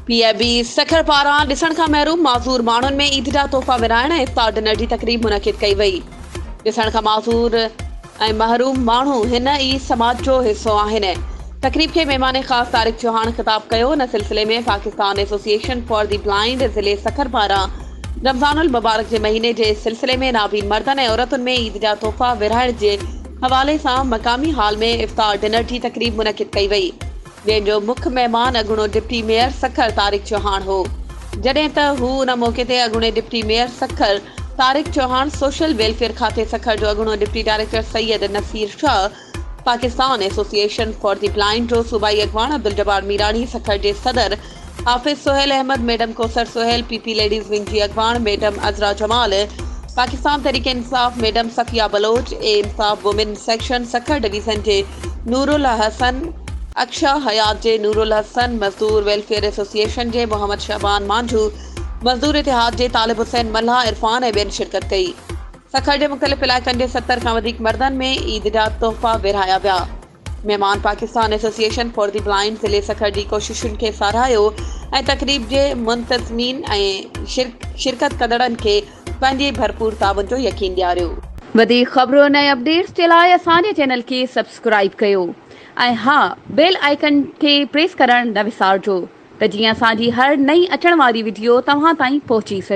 P A B Sukkur پاران ڏسڻ کان محروم معذور ماڻهن ۾ عيد جا تحفا ورهائڻ ۽ افطار ڊنر جي تقريب منعقد ڪئي وئي ڏسڻ کان معذور ۽ محروم ماڻهو هن ئي سماج جو حصو آهن. تقريب کي مهمان خاص طارق چوهاڻ خطاب ڪيو، ان سلسلي ۾ Pakistan association for the blind ضلعي سکر پاران رمضان المبارڪ جي مهيني جي سلسلي ۾ نابين مردن ۽ عورتن ۾ عيد جا تحفا ورهائڻ جي حوالي سان مقامي هال ۾ افطار ڊنر جي تقريب منعقد ڪئي وئي. جنهن جو مک مهمان اڳوڻو ڊپٽي ميئر سکر طارق چوهاڻ هو جڏهن ته هو ان موقعي تي اڳوڻي deputy mayor Sukkur Tariq Chauhan social welfare کاتي سکر جو اڳوڻو deputy director Syed Naseer Shah Pakistan association for the blind جو صوبائي اڳواڻ عبدالجبار ميراڻي سکر جي صدر Hafiz Sohail Ahmed, madam Kausar Sohail, P P ladies wing جي اڳواڻ ميڊم عذرا جمال، پاڪستان تحريڪ انصاف ميڊم صفيه بلوچ، اي انصاف وومين سيڪشن سکر ڊويزن جي نورالحسن، اڪشا حيات جي نورالحسن، مزدور ويلفيئر ايسوسيئيشن جي محمد شعبان مانجهو، مزدور اتحاد جي طالب حسين ملاح عرفان ۽ ٻين شرڪت ڪئي. سکر جي مختلف علائقن جي ستر کان وڌيڪ مردن ۾ عيد جا تحفا ورهايا ويا. مهمان Pakistan association for the blind ضلعي سکر جي ڪوششن کي ساراهيو ۽ تقريب جي منتظمين ۽ شرڪت ڪندڙن کي پنهنجي ڀرپور تعاون جو يقين ڏياريو. وڌيڪ خبرن ۽ اپڊيٽس جي لاء اسان جي چينل کي سبسڪرائيب ڪيو ۽ ها بيل آئيڪن کي پريس ڪرڻ نه وسارجو ته جيئن اسان جي هر نئين اچڻ واري وڊيو توهان تائين پهچي سگهي.